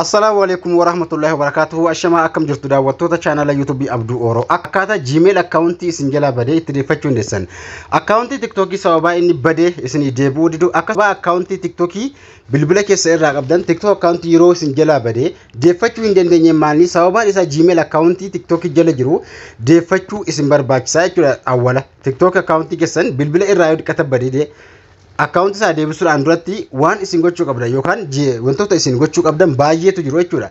Assalaamu alaikum warahmatullahi wabarakatuhu ashamaa akkam jirtu daawwattoota chaanala yuutuubii Abduu Ooroo akkaataa Gmail akkaawuntii isin jalaa badee itti deeffachuu dandeessan akkaawuntii tiktookii sababaa inni badee isinii deebi'uu didu akkasuma akkaawuntii tiktookii bilbila keessa irraa qabdan tiktook akkaawuntii yeroo isin jalaa badee deeffachuu hin dandeenye maalni sababaan isaa Gmail akkaawuntii tiktookii jala jiru deeffachuu isin barbaachisaa jechuudha awwala tiktook akkaawuntii keessan bilbila irraa yoo diqqata badee akkaawuntii isaa deebisuudhaan duratti waan isin gochuu qabdan yookaan ji- wantoota isin gochuu qabdan baay'eetu jiru jechuudha.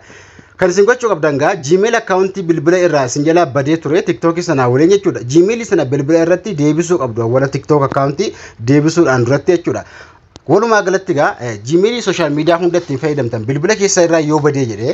Kan isin gochuu qabdan gaa Gmail akkaawuntii bilbila irraa isin jalaa badee ture TikTok sanaa waliin jechuudha. Gmail sana bilbila irratti deebisuu qabdu awwala TikTok akkaawuntii deebisuudhaan duratti jechuudha. Walumaa galatti gaa eh, Gmail sooshaal miidiyaa hunda ittiin fayyadamtan bilbila keessa irraa yoo badee jedhee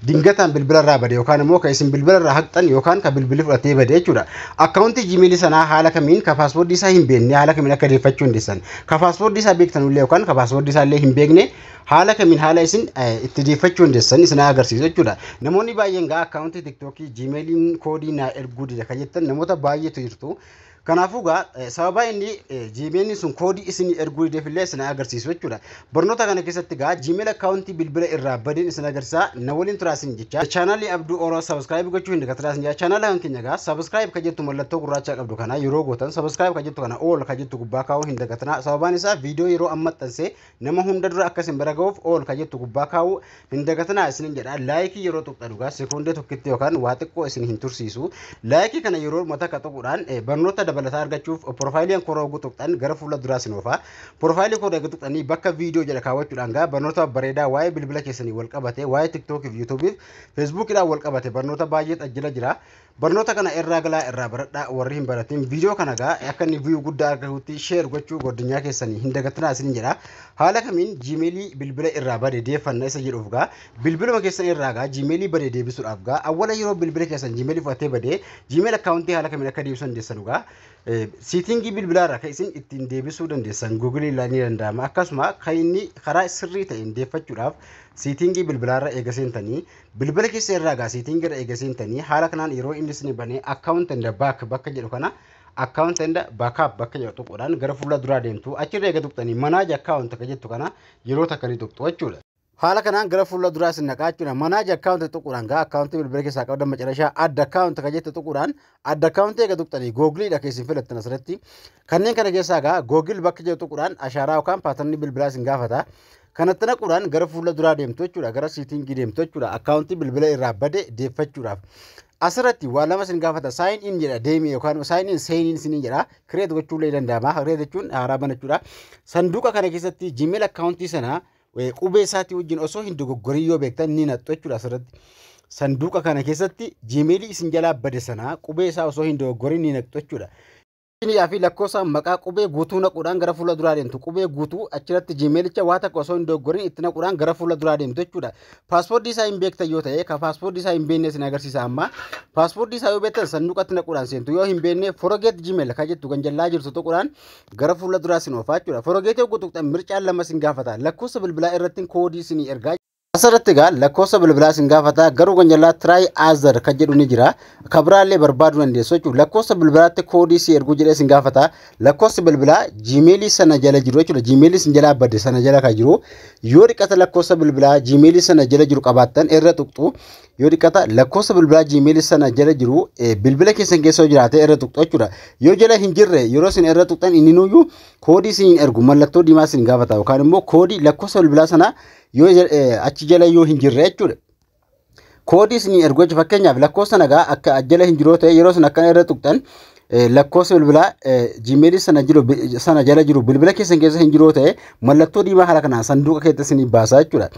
dingataan bilbila irraa bade yookaan immoo kan isin bilbila irraa haqxan yookaan kan bilbilli fudhatee bade jechuudha. Akkaawuntii Gmail sanaa haala kamiin ka paaswoordii isaa hin beekne haala kamiin akka deeffachuu hin deessan. Ka paaswoordii isaa beektanullee yookaan ka paaswoordii isaa illee hin beekne haala kamiin haala isin itti deeffachuu hin deessan isin agarsiisa jechuudha. Namoonni baay'een gaa akkaawuntii tiktookii Gmailiin koodii naa erguu dida kan jettan namoota baay'eetu jirtu. Kanaafuu egaa sababa inni Gmail sun koodii isin erguu dideef illee isin agarsiisu jechuudha. Barnoota kana keessatti egaa Gmail akkaawuntii bilbila irraa badeen isin agarsiisa. Na waliin turaa isin jecha. Chaanaalii Abduu Oro sabiskiraayib gochuu hin dagatinaa isin jecha. Chaanaala kan keenya egaa sabiskiraayib kan jettu mallattoo gurraachaa qabdu kana yeroo gootan sabiskiraayib kan jettu kana all kan jettu gubbaa kaa'uu hin dagatinaa. Sababaan isaa viidiyoo yeroo amma maxxansee Nama hunda dura akka isin bira ga'uuf ool kan jettu gubbaa kaa'uu hin dagatinaa isinin jedha. Laayikii yeroo tuqxa dhugaa sekoondee tokkitti yookaan waa xiqqoo isin hin tursiisu. Laayikii kana yeroo mata akka tuquudhaan eh, barnoota dabalataa argachuuf piroofaayiliin koo rooguu tuqxan gara fuula duraa isin oofa. Piroofaayilii koo eega tuqxanii bakka viidiyoo jedha kaawwachuudhaan gaa barnoota bareedaa waa'ee bilbila keessanii wal qabate, waa'ee tiktookii fi yuutuubiif feesbuukiidhaan wal qabate barnoota baay'eet ajjala jira. Barnoota kana irraa galaa irraa baradhaa warri hin baratin viidiyoo kana gaa akka inni viyuu guddaa argatutti sheer gochuu godinyaa keessanii hin dagatinaa isin jedha haala kamiin jiimeelii bilbila irraa bade deeffanna isa jedhuuf gaa bilbiluma keessan irraa gaa jiimeelii bade deebisuudhaaf gaa awwala yeroo bilbila keessan jiimeelii fudhatee bade jiimeel akkaawuntii haala kamiin akka deebisuu dandeessanu gaa siitingii bilbilaa irraa kan isin ittiin deebisuu dandeessan guugilii ilaa ni danda'ama akkasuma kan inni karaa sirrii ta'een deeffachuudhaaf siitingii bilbilaa irra eega seentanii Bilbila keessan irraa egaa setting irra eega seentanii haala kanaan yeroo inni isin banee account and back bakka jedhu kana account and backup bakka jedhu tuquudhaan gara fuula duraa deemtu achirra eega tuqxanii manage account akka jettu kana yeroo takka ni tuqxu jechuudha. Haala kanaan gara fuula duraa isin naqaa jechuudha. Manage account tuquudhaan gaa account bilbila keessaa qabdan macarashaa add account akka jettu tuquudhaan add account eega tuqxanii googliidha keessin filattan asirratti Kanneen kana keessaa egaa Google bakka jedhu tuquudhaan ashaaraa yookaan paatarnii bilbilaa isin gaafata. Kanatti naquudhaan gara fuula duraa deemtu jechuudha. Gara siitingii deemtu jechuudha. Akkaawuntii bilbila irraa bade deeffachuudhaaf. Asirratti waa lama isin gaafata. Sign in jedha deemii yookaan sign in sign in isin jedha. Create gochuu illee danda'ama. Create jechuun haaraa banachuudha. Sanduuqa kana keessatti Gmail akkaawuntii sana qubee isaatii wajjin osoo hin dogoggorin yoo beektan ni naqxu jechuudha asirratti. Sanduuqa kana keessatti Gmail isin jalaa bade sana qubee isaa osoo hin dogoggorin ni naqxu jechuudha. Iniyaa fi lakkoofsa maqaa qubee guutuu naquudhaan gara fuula duraa deemtu. Qubee guutuu achirratti jiimeelicha waa takka osoo hin doggorin itti naquudhaan gara fuula duraa deemtu jechuudha. Paaspoortii isaa hin beektan yoo ta'e ka paaspoortii isaa hin beekne isin agarsiisa amma. Paaspoortii isaa yoo beektan sanduuqatti naquudhaan seentu yoo hin beekne forogeet jiimeel ka jettu kan jallaa jirtu tuquudhaan gara fuula duraa sin oofaa jechuudha. Forogeet yoo guutuqxan mircaan lama sin gaafata. Lakkoofsa bilbilaa irratti koodii sin ergaa. Asirratti egaa lakkoofsa bilbilaa sin gaafata garuu kan jalaa try other kan jedhu ni jira. Kan biraallee barbaaduu dandeessu jechuudha. Lakkoofsa bilbilaatti koodii si erguu jedhee sin gaafata. Lakkoofsi bilbilaa jiimeelii sana jala jiru jechuudha. Jiimeelii sin jalaa bade sana jala kan jiru. Yoo dhiqata lakkoofsa bilbilaa jiimeelii sana jala jiru qabaattan irra tuqxu. Yoo dhiqata lakkoofsa bilbilaa jiimeelii sana jala jiru eh, bilbila keessan keessa yoo jiraate irra tuqxu jechuudha. Yoo jala hin jirre yeroo sin irra tuqxan inni nuyyuu koodii sin hin ergu mallattoo diimaa sin gaafata yookaan immoo koodii lakkoofsa bilbilaa sana yoo ja- eh, achi jala yoo hin jirre jechuudha. Koodii isinii ergu jechuudha. Fakkeenyaaf lakkoofsa nagaa akka achi jala hin jiroo ta'e yeroo isin akkana irra tuqxan eh, lakkoofsa bilbilaa eh, Gmail sana jiru bi- sana jala jiru bilbila keessan keessa hin jiroo ta'e mallattoo diimaa haala kanaan sanduuqa keessa isinii baasaa jechuudha.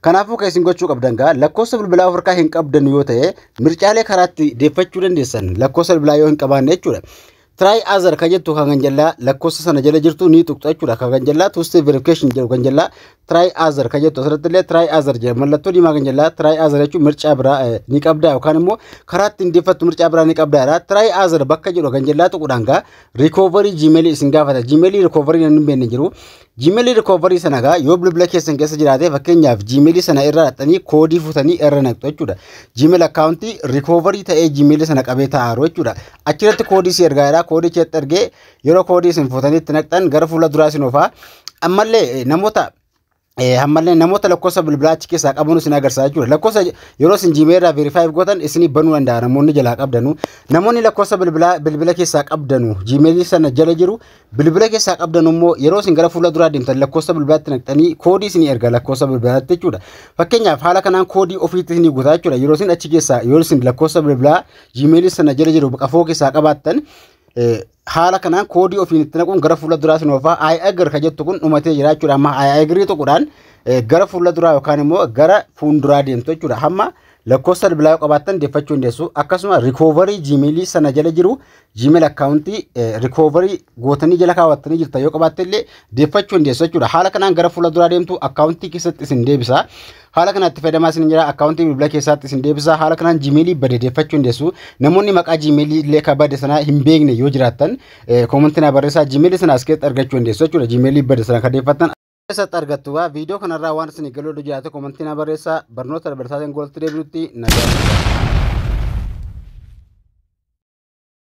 Kanaafuu kan isin gochuu qabdan gaa lakkoofsa bilbilaa of harkaa hin qabdan yoo ta'e mircaalee karaatti deeffachuu dandeessan lakkoofsa bilbilaa yoo hin qabaanne jechuudha. try other ka jettu kan ganjallaa lakkoofsa sana jala jirtu ni tuqxa jechuudha kan ganjallaa two step verification jedhu ganjallaa try other ka jettu asirratti illee try other jedha mallattoo diimaa ganjallaa try other jechuun mircaa biraa eh, ni qabdaa yookaan immoo karaa ittiin deeffattu mircaa biraa ni qabdaa jedha try other bakka jedhu ganjallaa tuquudhaan gaa recovery gmail isin gaafata gmail recovery nan hin beekne jiru Gmail recovery sana egaa yoo bilbila keessan keessa jiraate fakkeenyaaf Gmail sana irra dhaqxanii koodii fuutanii irra naqxu jechuudha. Gmail akkaawuntii recovery ta'ee Gmail sana qabee taa'aru jechuudha. Achirratti koodii si ergaa jira koodii keessatti ergee yeroo koodii isin fuutanii itti naqxan gara fuula duraa isin oofaa. Ammallee eh, namoota Eh, ammallee namoota lakkoofsa bilbilaa achi keessaa qaban isin agarsiisa jechuudha. Lakkoofsa yeroo isin Gmail irraa verify gootan isin banuu danda'a namoonni jalaa qabdanu. Namoonni lakkoofsa bilbilaa bilbila keessaa qabdanu Gmail sana jala jiru Bilbila keessaa qabdan immoo yeroo isin gara fuula duraa deemtan lakkoofsa bilbilaatti naqxanii koodii isin erga lakkoofsa bilbilaatti jechuudha. Fakkeenyaaf haala kanaan koodii ofiitti isin guutaa jechuudha. Yeroo isin achi keessaa yoo isin lakkoofsa bilbilaa jiimeelii sana jala jiru qafoo keessaa qabaattan haala kanaan koodii ofiin itti naquun gara fuula duraa isin oofaa ayi agir ka jettu kun dhumatee jira jechuudha. Amma ayi agirii tokkodhaan gara fuula duraa yookaan immoo gara fuulduraa deemtu jechuudha. Hamma Lakkoofsa bilbilaa yoo qabaattan deeffachuu dandeessu. Akkasuma rikoovarii jiimeelii sana jala jiru jiimeel akkaawuntii rikoovarii gootanii jala kaawwattanii jirtan yoo qabaatte illee deeffachuu dandeessu jechuudha. Haala kanaan gara fuula duraa deemtu akkaawuntii keessatti isin deebisa. Haala kanatti fayyadamaa isin jira akkaawuntii bilbila keessaatti isin deebisa. Haala kanaan jiimeelii bade deeffachuu dandeessu. Namoonni maqaa jiimeelii illee ka bade sana hin beekne yoo jiraattan koomantii na barreessaa jiimeelii sana as keessatti argachuu dandeessu jechuudha. Jiimeelii bade sana ka deeffattan keessatti argattu waa viidiyoo kanarraa waan isin galuu dha jiraate komantii na barreessaa barnoota dabarsaatiin goolatti deebinutti nagaa.